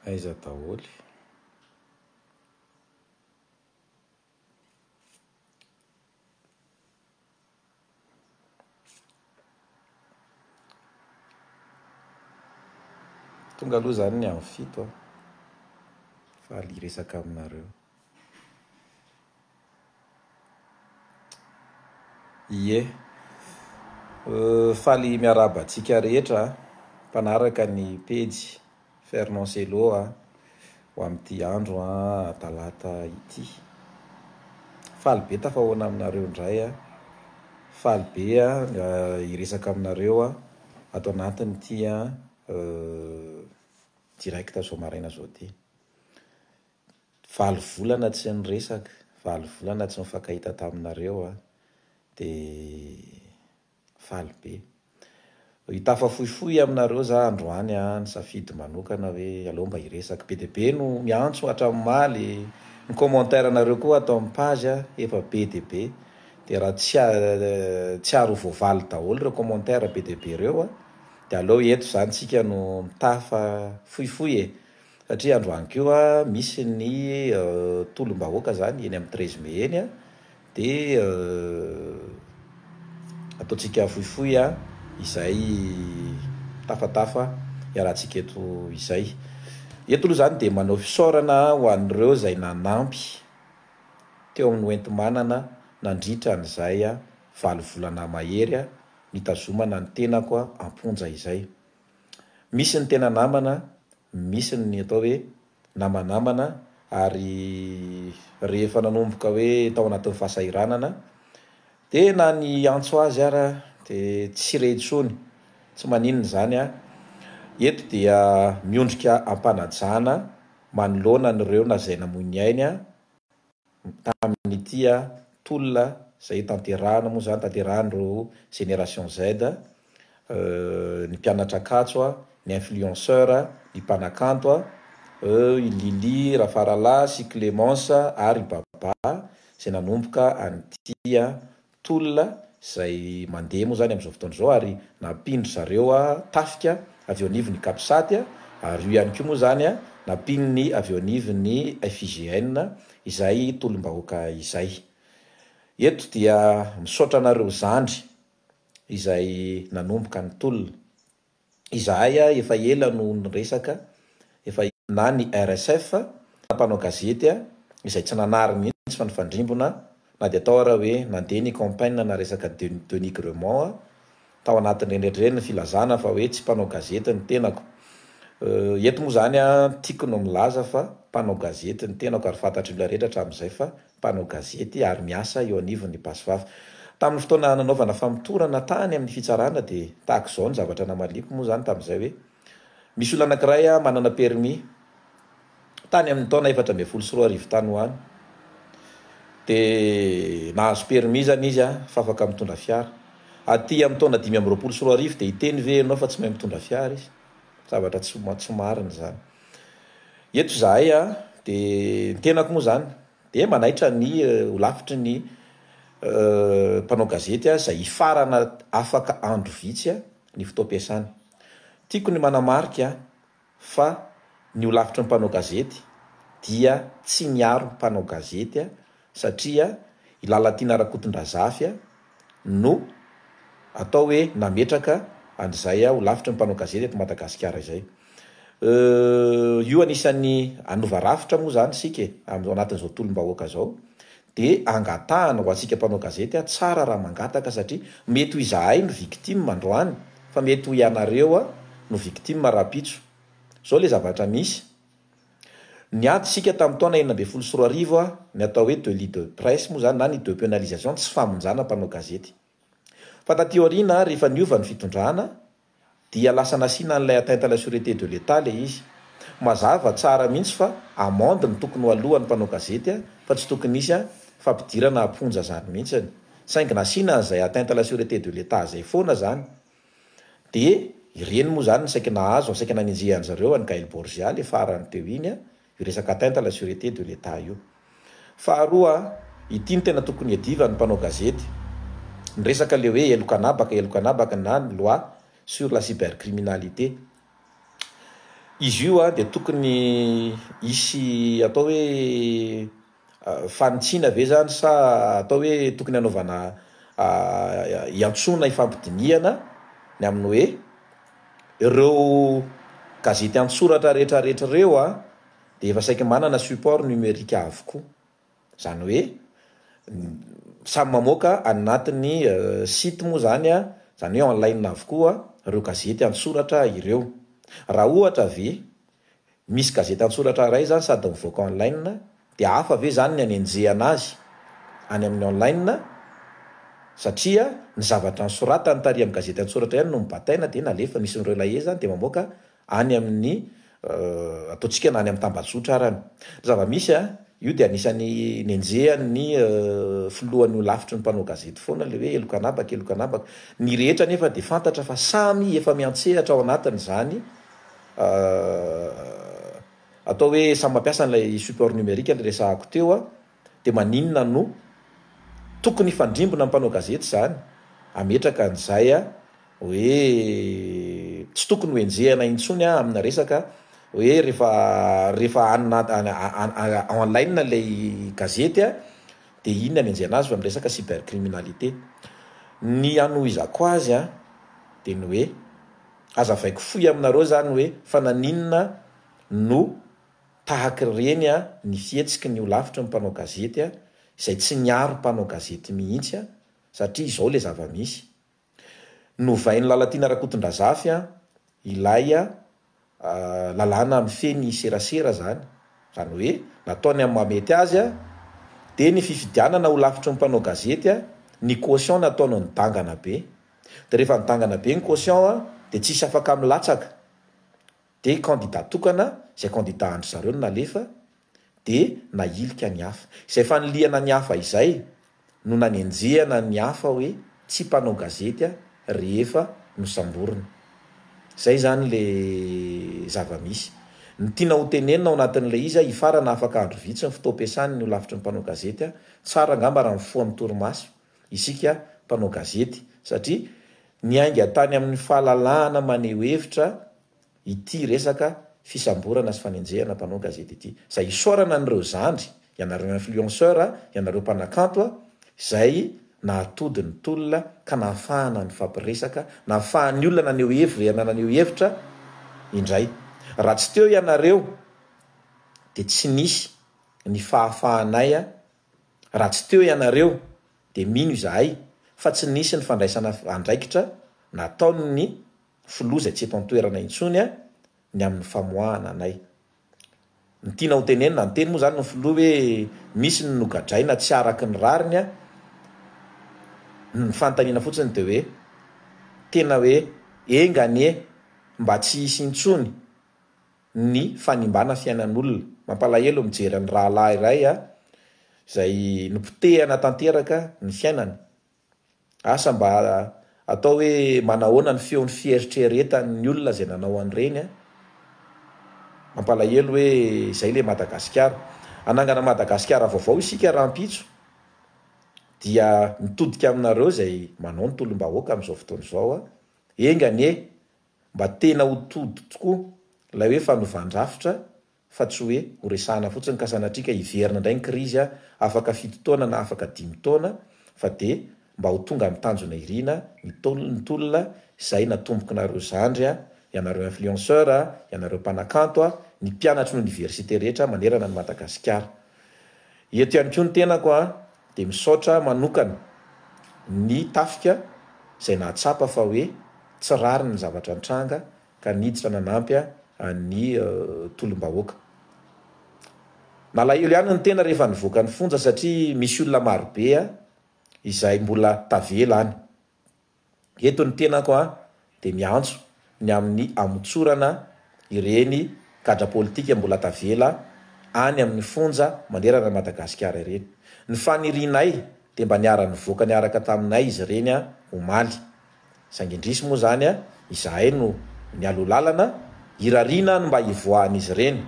Aiza daholo? Tonga aloha zany ny amin'ny fito an! Faly hiresaka aminareo. Ie, faly miarahaba antsika rehetra mpanaraka ny pejy. Fernand Cello a, ho amin'ity andro a talata ity. Faly be tafahoana aminareo indray a. Faly be a hiresaka aminareo a ato anatin'ity a direct zao maraina zao ty. Valo volana tsy niresaka, valo volana tsy nifankahita taminareo a, de. Faly be. Hitafa fohifohy aminareo za androany a, nisafidy manokana hoe aleo mba hiresaka. Be dia be no miantso hatramimaly, ny commentaire nareo koa ato am page a efa be dia be, dia raha tsy tsiary ho voavaly daholo ireo commentaire be dia be ireo a, dia aleo eto zany tsika no mitafa fohifohy e, satria androany koa misy ny tolom-bahoaka zany eny am treize mai eny a, Dia ataontsika fohifohy izay tafatafa iarahantsika eto izay. Eto aloha izany dia manao fisaorana ho an'ireo izay nanampy teo amin'ny hoenti-manana nandritra an'izay valo volana mahery nitazomana ny tenako am-ponja izay. Misy ny tena namana, misy ny atao hoe namanamana ary rehefa nanomboka hoe tao anatin'ny fahasahiranana dia na ny hiantso azy ara dia tsy re intsony, tsy maninona izany an! eto dia miondrika am-panajana manoloana an'ireo na izay namoy ny ainy an! tamin'ity tolona izay tanterahina moa izany, tanterahin'ireo génération Z, ny mpianatra Ankatso, ny influenceur, ny mpanakanto, eo i Lily Rafaralahy sy Clémence ary i Baba izay nanomboka an'ity tolona izay mandeha moa izany amin'izao fotoana izao ary nampian-dry zareo tafika avy eo anivon'ny Capsat ary io ihany koa moa izany nampian'ny avy eo anivon'ny FIGN izay tolom-bahoaka izay. Eto dia misaotra anareo zandry izay nanomboka ny tolona. Izahay a efa ela no niresaka efa na ny RSF na mpanao gazety a izay tsy nanary mihitsy fa nifandrimbona na dia tao ara hoe nandeha ny campaign na resaka denigrement a tao anatin'ireny rehetra ireny ny filazana fa hoe tsy mpanao gazety ny tenako euh eto moa izany a tiako no milaza fa mpanao gazety ny tenako ary fantatr'olona rehetra hatramin'izay fa mpanao gazety ary miasa eo anivon'ny Basivava. Tamin'ny fotoana nanaovana famotorana tany amin'ny fitsarana dia tahaka izao ny zavatra namaliako moa izany tamin'izay hoe, misy olona anankiray manana permis tany amin'ny taona efatra ambin'ny folo sy roa arivo tany ho any dia nahazo permis izany izy fa afaka mitondra fiara. Aty amin'ny taona dimy amby roapolo sy roa arivo dia hiteny ve ianao fa tsy mahay mitondra fiara izy? Zavatra tsy tsy marina izany. Eto izahay a, dia ny tenako moa izany dia manaitra ny holafitry ny mpanao gazety izay hifarana afaka andro vitsy ny fotoam-piasany. Tiako ny manamarika fa ny holafitry ny mpanao gazety dia tsy miaro ny mpanao gazety. satria i Lalatiana Rakotondrazafy no atao hoe nametraka an'izay ho lafitry ny mpanao gazety eto Madagasikara izay. Euh, io anisan'ny hanova rafitra moa izany isika e, amin'izao anatin'izao tolom-bahoaka izao, dia angatahana ho antsika mpanao gazety a, tsara raha mangataka satria mety ho izahay no victime androany fa mety ho ianareo no victime rahampitso. Izao ilay zavatra misy. Niady isika tamin'ny taona enina ambin'ny folo sy roa arivo a, ny atao hoe delit de presse moa izany na ny depénalisation, tsy famonjana mpanao gazety. Fa taty aoriana, rehefa niova ny fitondrana, dia lasa nasiana an'ilay atteinte à la sûreté de l'Etat ilay izy. Mazava tsara mihitsy fa amende no tokony ho alohan'ny mpanao gazety fa tsy tokony hisy a, fampidirana am-ponja izany mihitsy. Saingy nasiana an'izay atteinte à la sûreté de l'Etat izay foana izany. Dia ireny moa izany no saika nahazo, no saika nanenjehan'i zareo an'i Gaël Borgia ilay farany teo iny, io resaka atteinte à la sûreté de l'Etat io. Faharoa, ity no tena tokony iadivan'ny mpanao gazety, ny resaka ilay hoe heloka anabaka, heloka anabaka na ny loi sur la cybercriminalité. Izy io dia tokony hisy atao hoe. Fanitsiana ve izany sa atao hoe tokony hanaovana hiantsoana hifampidinihana ny amin'ny hoe ireo gazety an-tsoratra rehetrarehetra ireo dia efa saiky manana support numerique avokoa. Izany hoe samy mamoaka any anatin'ny site moa izany, izany hoe en ligne avokoa ireo gazety an-tsoratra ireo. Raha ohatra ve Misy gazety an-tsoratra iray izany sady mivoaka online, dia hafa ve izany ny anenjehana azy any amin'ny online satria ny zavatra nosoratany tary amin'ny gazety an-tsoratra ihany no nobataina dia nalefiny, misy ireo lahier izany dia mamoaka any amin'ny ataontsika na any amin'ny tambajotra arany. Ny zava-misy an, io dia anisan'ny nenjehan'ny filohan'ny holafitry ny mpanao gazety foana ilay hoe heloka an'habaka, heloka an'habaka. Ny rehetra anefa dia fantatra fa samy efa miantsehatra ao anatin'izany atao hoe samy mampiasa an'ilay support numérique ny resahako teo an, dia maninona no tokony hifandrimbona ny mpanao gazety izany, hametraka an'izay hoe tsy tokony ho enjehina intsony amina resaka hoe rehefa rehefa en ligne ilay gazety an, dia iny ny hanenjehina azy fa miresaka cybercriminalité. Ny hanohizako azy an, dia ny hoe. Aza avaiko fohy aminareo zany hoe fa naninona no tahaka ireny ny fihetsiky ny holafitry ny mpanao gazety izay tsy niaro mpanao gazety mihitsy satria izao ilay zava-misy. Novain'i Lalatiana Rakotondrazafy ilay lalàna mifehy ny serasera izany, izany hoe nataony amin'ny mahamety azy dia ny fifidianana holafitry ny mpanao gazety, ny caution nataony nidangana be. de rehefa midangana be ny quotient a de tsisy afaka milatsaka de candidat tokana zay candidat andry zareo no nalefa de nahilika ny hafa izay fanilihana ny hafa izay no nanenjehana ny hafa hoe tsy mpanao gazety a rehefa nosamborina zay zany le zavamisy ny tiana ho tenenina ao anatin'ilay izy a hifarana afaka andro vitsy ny fotoam-piasany ny holafitry ny mpanao gazety a tsara angamba raha mifoha amin'ny torimaso isika mpanao gazety satria niainga tany amin'ny fahalalahana maneho hevitra ity resaka fisamborana sy fanenjehana mpanao gazety ity izay isaorana an'ireo zandry, ianareo influenceurs, ianareo mpanakanto a, izay nahatody ny tolona ka nahafahana nifampiresaka, nahafahan'ny olona naneho hevir na naneho hevitra indray. Raha tsy teo ianareo dia tsy nisy ny fahafahanay Raha tsy teo ianareo dia mino izahay fa tsy nisy ny fandraisana andraikitra nataon'ny filoha izay tsy eto an-toerana intsony ny amin'ny famoahana anay. Ny tiana ho tenenina, niteny moa izany ny filoha hoe misy ny nogadraina tsy araka ny rariny, ny fanontaniana fotsiny dia hoe tena hoe enga anie mba tsy hisy intsony. ny fanimbana fiainan'olona. Mampalahelo mijery an'i rahalahy iray a, izay nopotehana tanteraka ny fiainany. Asa mba atao hoe manahoana ny feon'ny fieritreretan'ny olona izay nanao an'ireny a. Mampalahelo hoe izay ilay Madagasikara. Hanangana Madagasikara vaovao isika rahampitso dia mitodika aminareo izay manao ny tolom-bahoaka amin'izao fotoana izao a. Enga anie Mba tena ho tody tokoa ilay hoe fanovan-drafitra fa tsy hoe ho resahana fotsiny ka sanatria ka hiverina indray ny krizy a, afaka fito taona na afaka dimy taona fa dia mba ho tonga amin'ny tanjona irina ny tolona ny tolona izay natombokinareo zandry a, ianareo influenceurs a, ianareo mpanakanto a, ny mpianatry ny oniversite rehetra manerana an'i Madagasikara. Eto ihany koa ny tenako a, Dia misaotra manokana ny tafika izay nahatsapa fa hoe tsy rariny ny zavatra nitranga ka niditra nanampy an'ny tolom-bahoaka. Nalahelo ihany ny tena rehefa nivoaka ny fonja satria misy olona marobe izay mbola tavela any. Eto ny tenako dia miantso ny amin'ny hamotsorana ireny gadra politika mbola tavela any amin'ny fonja manerana an'i Madagasikara ireny. Ny fanirianay dia mba niara-nivoaka niaraka taminay izy ireny omaly. Saingy indrisy moa izany izahay no nialoha lalana, irariana ny mba hivoahan'izy ireny.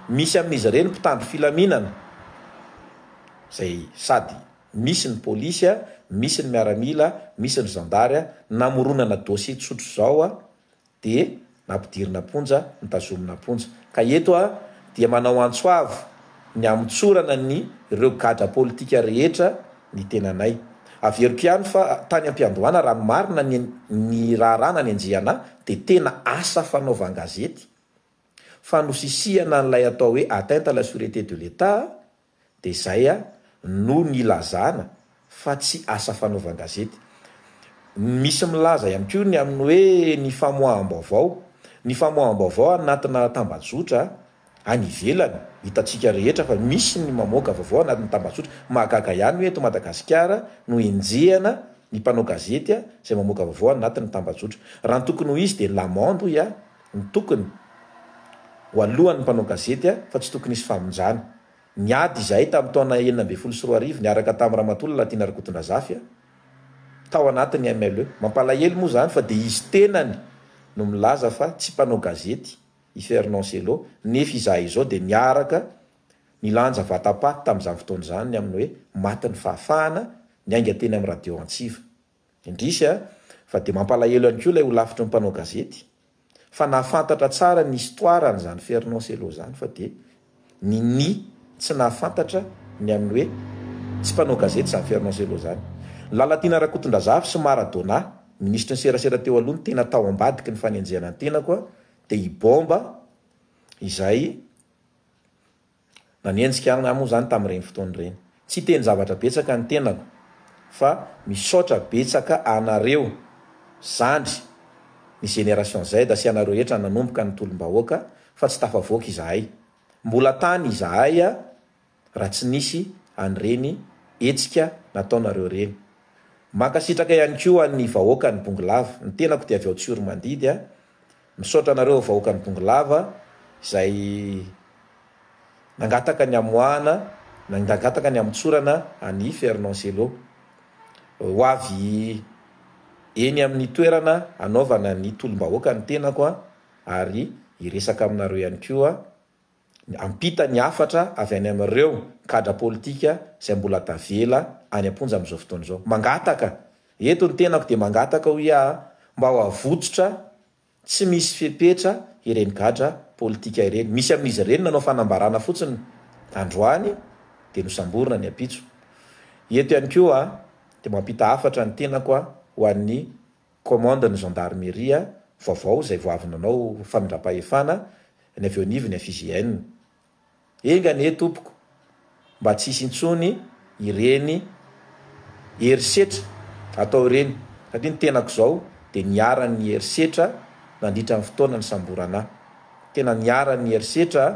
Misy amin'izy ireny mpitandro filaminana izay sady. misy ny polisy a, misy ny miaramila a, misy ny zandary a, namoronana dossier tsotra izao a, dia nampidirina am-ponja, notazomina am-ponja. Ka eto aho dia manao antso avo ny hamotsorana ny ireo gadra politika rehetra ny tenanay. Averiko ihany fa tany am-piandohana raha ny marina ny ny raharaha nanenjehana ahy dia tena asa fanaovan-gazety, fanosisihana an'ilay atao hoe atteinte à la surete de l'Etat Dia izay no nilazana fa tsy asa fanaovan-gazety. Misy milaza ihany koa ny amin'ny hoe ny famoaham-baovao. Ny famoaham-baovao anatina tambajotra any ivelany, hitantsika rehetra fa misy ny mamoaka vaovao anatin'ny tambajotra. Mahagaga ihany hoe eto Madagasikara no enjehana ny mpanao gazety izay mamoaka vaovao anatin'ny tambajotra. Raha ny tokony ho izy dia ny La Monde hoy aho. Ny tokony Ho alohan'ny mpanao gazety a fa tsy tokony hisy famonjana. Niady izahay tamin'ny taona enina ambin'ny folo sy roa arivo niaraka tamin'i Ramatoa Lalatiana Rakotondrazafy a tao anatin'ny MLE. Mampalahelo moa izany fa dia izy tenany no milaza fa tsy mpanao gazety i Fernand Cello nefa izahay izao dia niaraka nilanja vatapaty tamin'izany fotoana izany ny amin'ny hoe maty ny fahafahana niainga teny amin'ny radio Antsiva. Indrisy a! fa dia mampalahelo ihany koa ilay holafitry ny mpanao gazety fa nahafantatra tsara ny histoire an'izany Fernand Cello izany fa dia ninia tsy nahafantatra ny an'ny hoe tsy mpanao gazety izany Fernand Cello izany. Lalatiana Rakotondrazafy sy Maradona, minisitry ny serasera teo aloha no tena tao ambadiky ny fanenjehana ny tenako dia i Bomba izay Nanenjika ahy moa izany tamin'ireny fotoana ireny. Tsy hiteny zavatra betsaka ny tenako fa misaotra betsaka anareo zandry ny Génération Z sy anareo rehetra nanomboka ny tolom-bahoaka fa tsy tafavoaka izahay. Mbola tany izahay raha tsy nisy an'ireny hetsika nataonareo ireny. Mankasitraka ihany koa an'ny vahoakan'i Bongolava. Ny tenako dia avy ao Tsiromandidy. Misaotra anareo vahoakan'i Bongolava izay nangataka ny hamoahana na nangataka ny hamotsorana an'i Fernand Cello. Ho avy eny amin'ny toerana hanaovana ny tolom-bahoaka ny tenako ary hiresaka aminareo ihany koa. Miampita ny hafatra avy any amin'ireo kadra politika izay mbola tavela any am-ponja amin'izao fotoana izao. Mangataka, eto ny tenako dia mangataka hoy aho, mba ho avotsitra tsy misy fepetra ireny gadra politika ireny. Misy amin'izy ireny nanao fanambarana fotsiny androany dia nosamborina ny ampitso. Eto ihany koa dia mampita hafatra ny tenako ho an'ny. Commande ny Gendarmerie vaovao izay vao avy nanao famindram-pahefana ny avy eo anivon'ny FIGN. Enga anie tompoko mba tsy hisy intsony ireny herisetra atao ireny satria ny tenako izao dia niharan'ny herisetra nandritra ny fotoana nisamborana ahy. Tena niharan'ny herisetra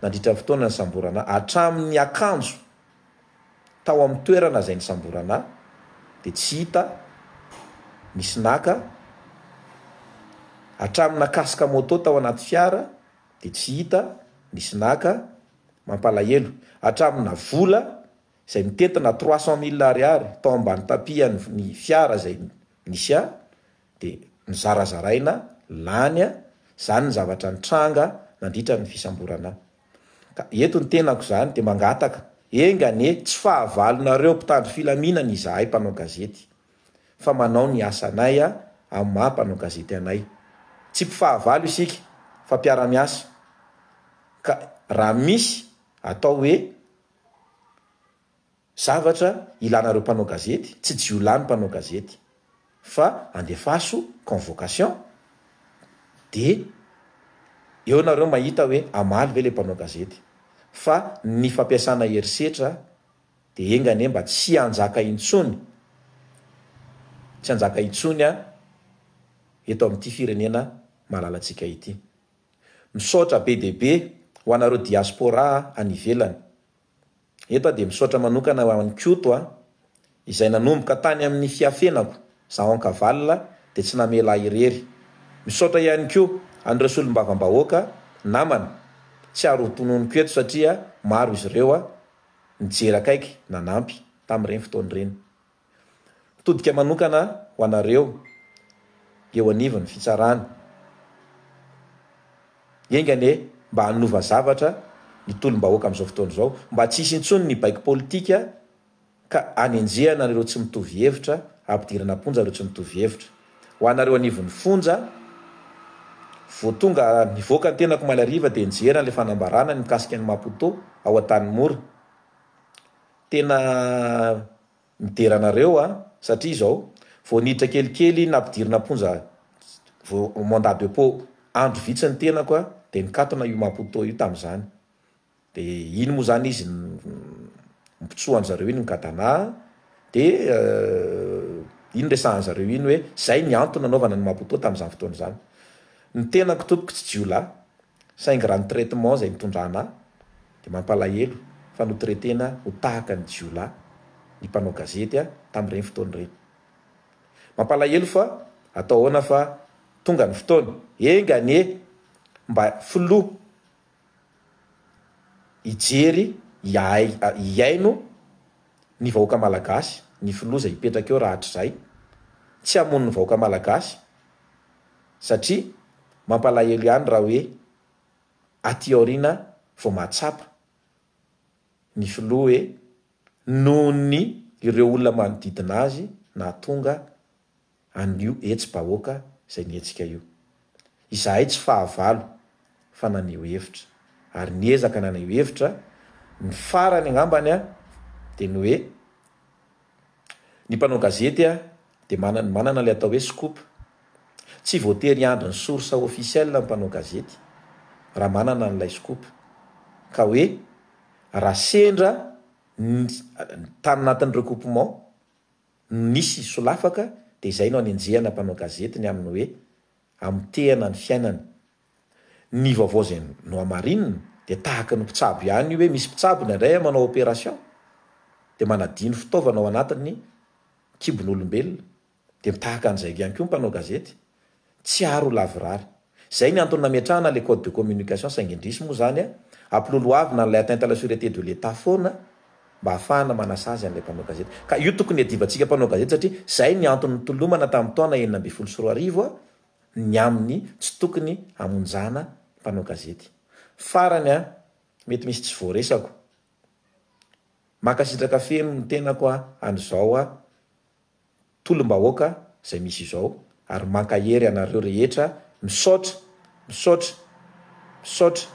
nandritra ny fotoana nisamborana ahy hatramin'ny akanjo. Tao amin'ny toerana izay nisamborana ahy dia tsy hita nisy naka hatramin'ny nakasika moto tao anaty fiara dia tsy hita nisy naka mampalahelo hatramin'ny na vola izay mitety na trois cent mille ariary tao ambany tapis an'ny fiara izay nisy ahy dia nozarazaraina lany izany ny zavatra nitranga nandritra ny fisamborana ahy. Ka eto ny tenako izany dia mangataka, enga anie tsy fahavalonareo mpitandro filaminana izahay mpanao gazety, fa manao ny asanay amin'ny maha mpanao gazety anay. Tsy mpifahavalo isika fa mpiara-miasa, ka raha misy atao hoe, Zavatra ilanareo mpanao gazety, tsy jiolahy ny mpanao gazety, fa andefaso convocation de eo nareo mahita hoe hamaly ve le mpanao gazety, fa ny fampiasana herisetra de enga anie mba tsy hanjaka intsony, tsy hanjaka intsony an eto amin'ity firenena malalantsika ity. Misaotra be dia be ho anareo diaspora any ivelany. Eto aho dia misaotra manokana ho an'i Koto a! izay nanomboka tany amin'ny fiafenako izaho ankavalona dia tsy namela ahy irery. Misaotra ihany koa an'ireo solombavambahoaka namana tsiaro ho tononiko eto satria maro izy ireo nijery akaiky nanampy tamin'ireny fotoana ireny. Mitodika manokana ho anareo eo anivon'ny fitsarana. Enga anie mba hanova zavatra ny tolom-bahoaka amin'izao fotoana izao, mba tsy hisy intsony ny baiko politika ka hanenjehana an'ireo tsy mitovy hevitra, hampidirana am-ponja ireo tsy mitovy hevitra. Ho anareo anivon'ny fonja, vao tonga nivoaka ny tenako omaly hariva dia nijery an'ilay fanambarana ny mikasika an'i Maputo ao Antanimora. Tena midera anareo a! Satria izao, vao niditra kelikely nampidirina am-ponja vao mandat de pot, andro vitsy ny tenako a, dia nikatona io Maputo io tamin'izany. Dia iny moa izany izy nipitsoa an-dry zareo iny ny gadana, dia iny resahan'ny zareo iny hoe izay ny antony nanaovana ny Maputo tamin'izany fotoana izany. Ny tenako tompoko tsy jiolahy, Saingy raha ny traitement izay nitondrana ahy dia mampalahelo fa notraitena ho tahaka ny jiolahy ny mpanao gazety tamin'ireny fotoana ireny. Mampalahelo fa atao ahoana fa tonga ny fotoana, enga anie mba filoha hijery hiaino. ny vahoaka malagasy ny filoha izay hipetraka eo rahatrizay, tsy hamono ny vahoaka malagasy satria mampalahelo ihany raha hoe aty aoriana vao mahatsapa ny filoha hoe nohon'ny ireo olona manodidina azy nahatonga Anio etsy bahoaka zay nihetsika io. Izahay tsy fahavalo fa naneho hevitra ary niezaka naneho hevitra, ny farany angambany a de ny hoe ny mpanao gazety a de manana manana le atao hoe scoop, tsy voatery hiandry ny source officiel ny mpanao gazety raha manana an'ilay scoop ka hoe raha sendra ny tany natin'ny recoupement, no nisy solafaka dia izay no anenjehana mpanao gazety ny amin'ny hoe amotehana ny fiainany. Ny vaovao izay nohamarinina dia tahaka ny mpitsabo ihany io hoe misy mpitsabo indraindray manao operation dia manadino fitaovana ao anatin'ny kibon'olombelona dia mitahaka an'izay ihany koa ny mpanao gazety Tsy ary ho lavorary. Izay ny antony nametrahana ilay code de communication saingy indrisy moa izany a, ampilolohavina an'ilay atteinte à la surete de l'Etat foana mba hahafahana manasazy an'ilay mpanao gazety. Ka io tokony hiadivantsika mpanao gazety satria izay ny antony nitolomana tamin'ny taona enina ambin'ny folo sy roa arivo a, ny amin'ny tsy tokony hamonjana mpanao gazety. Farany a, mety misy tsy voaresako. Mankasitraka feno ny tenako a, an'izao a. tolom-bahoaka izay misy izao ary mankahery anareo rehetra misaotra misaotra misaotra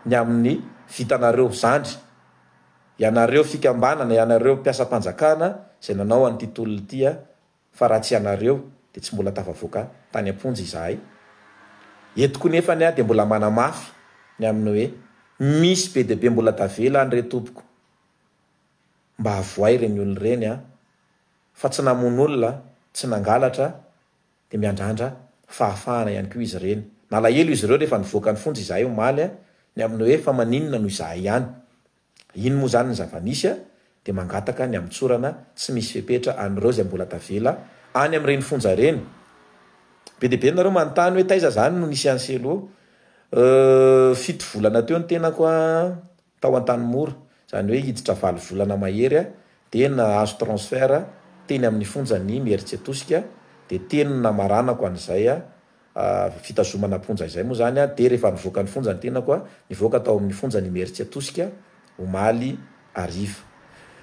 ny amin'ny vitanareo zandry ianareo fikambanana ianareo mpiasam-panjakana izay nanao an'ity tolona ity a fa raha tsy ianareo dia tsy mbola tafavoaka tany am-ponja izahay eto koa nefany aho dia mbola manamafy ny amin'ny hoe misy be dia be mbola tavela any re tompoko Mba avohay ireny olona ireny a! Fa tsy namono olona, tsy nangalatra dia miandrandra fahafahana ihany koa izy ireny. Nalahelo izy ireo rehefa nivoaka ny fonja izahay omaly ny amin'ny hoe fa maninona no izahay ihany? Iny moa izany ny zava-nisy a! dia mangataka ny hamotsorana tsy misy fepetra an'ireo izay mbola tavela any amin'ireny fonja ireny. Be dia be nareo manontany hoe taiza izany no nisy an'i Selo? Euh, fito volana teo ny tenako a! Tao Antanimora, izany hoe hiditra valo volana mahery, dia nahazo transfert teny amin'ny fonjan'i Mieritsetosika, dia teny namaranako an'izay fitazomana am-ponja izay moa izany dia rehefa nivoaka ny fonja ny tenako, nivoaka tao amin'ny fonjan'i Mieritsetosika omaly hariva.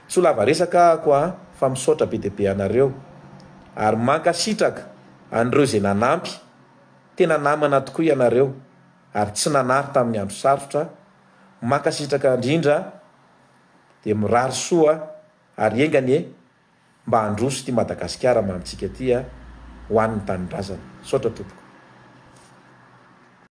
Tsy ho lava resaka ahako fa misaotra be dia be anareo ary mankasitraka an'ireo izay nanampy, tena namana tokoa ianareo ary tsy nanary tamin'ny andro sarotra Mankasitraka indrindra dia mirary soa ary enga anie mba handroso ity Madagasikara mamintsika ity a, ho an'ny tanindrazana. Misaotra tompoko.